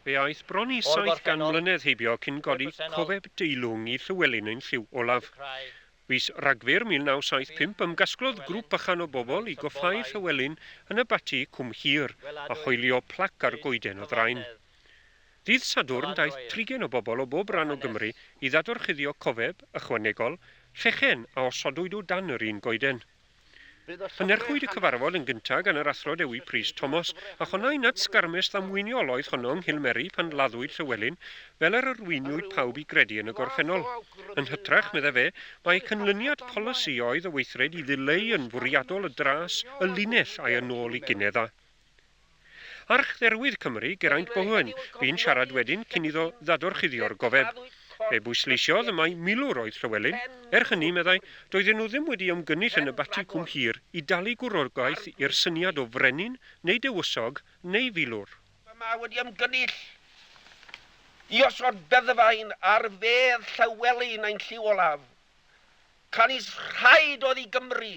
Fe aeth bron i saith gan mlynedd heibio cyn godi cofeb deilwng i Llywelyn ein llyw olaf. Fis Rhagfyr 1975 ymgasglodd grŵp bychan o bobl i goffáu Llywelyn yn y Bati Cwm Hir a hoelio plac ar goeden y ddraen. Ddydd Sadwrn daeth trigen o bobl o bob ran o Gymru i ddadorchuddio cofeb ychwanegol, llechen a osodwyd o dan yr un goeden. Cynhyrchwyd y cyfarfod yn gyntaf gan yr Athro Dewi Prys Thomas, a chonnai nad sgarmes ddamweiniol oedd honno yng Nghilmeri pan laddwyd Llywelyn, fel yr arweiniwyd pawb i gredu yn y gorffennol. Yn hytrach, meddai fe, mai canlyniad polisi oedd y weithred i ddileu yn fwriadol y dras, y linell, a'i â nôl i Ginedd a. Archdderwydd Cymru, Geraint Bowen, fu'n siarad wedyn cyn iddo ddadorchuddio'r gofeb. Fe bwysleisiodd y mai milwr oedd Llywelyn. Er hynny, meddai, doedden nhw ddim wedi ymgynnull yn y Bati Cwm Hir i dalu gwrogaeth i'r syniad o frenin neu dewysog neu filwr. Mae Mae wedi ymgynnull i osod beddfaen ar fedd Llywelyn ein llyw olaf. Canys rhaid oedd i Gymru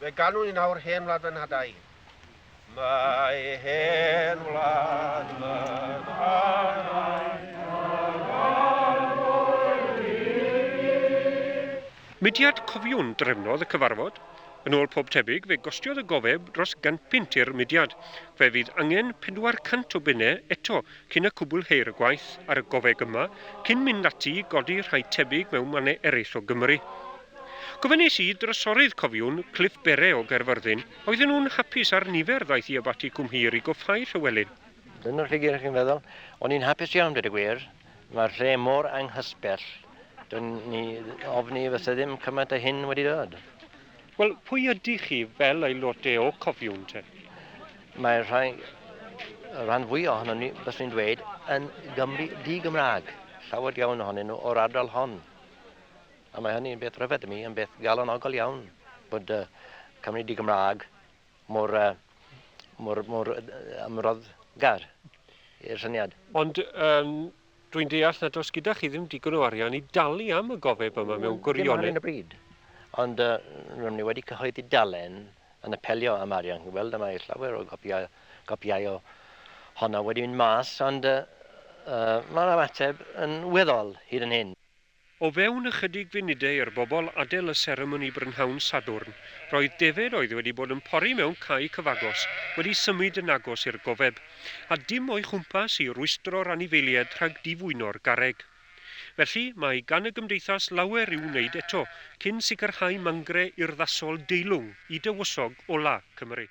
Fe ganwn ni nawr Hen Wlad fy Nhadau. Mae hen wlad fy nhadau Mudiad Cofiwn drefnodd y cyfarfod. Yn ôl pob tebyg, fe gostiodd y gofeb dros gant punt i'r mudiad. Fe fydd angen 400 o bunnau eto cyn y cwblheir y gwaith ar y gofeg yma, cyn mynd ati i godi rhai tebyg mewn mannau eraill o Gymru. Gofynnais i Drysorydd Cofiwn, Cliff Bere o Gaerfyrddin, oedden nhw'n hapus â'r nifer ddaeth i Abaty Cwm Hir i goffáu Rhywelyn. Dyna lle gyrrech chi'n feddwl. O'n i'n hapus iawn, dweud y gwir. Mae'r lle mor anghysbell. Dwi'n ni ofni y fysa ddim cymaint o hyn wedi dod. Wel, pwy ydych chi fel aelode o Cofiwn te? Mae rhai, y rhan fwyaf ohono ni, bys ni'n dweud, yn Gymru di-Gymraeg. Llawer iawn ohonyn nhw o'r ardal hon. A mae hynny yn beth rhyfedd i mi, yn beth galonogol iawn bod uh, Cymru di Gymraeg mor, uh, mor, mor uh, ymroddgar i'r syniad. Ond um, dwi'n deall nad oes gyda chi ddim digon o arian i dalu am y gofeb yma mewn gwirionedd. Dim ar y bryd. Ond uh, rydym ni wedi cyhoeddi dalen yn apelio am arian. Chi'n gweld yma mae llawer o gopiau, gopiau o honna wedi mynd mas, ond uh, uh, mae'r ymateb yn weddol hyd yn hyn. O fewn ychydig funudau i'r bobl adael y seremoni brynhawn Sadwrn, roedd defaid oedd wedi bod yn pori mewn cae cyfagos wedi symud yn agos i'r gofeb, a dim o'i chwmpas i rwystro'r anifeiliaid rhag difwyno'r garreg. Felly, mae gan y Gymdeithas lawer i'w wneud eto cyn sicrhau mangre urddasol deilwng i dywysog ola' Cymru.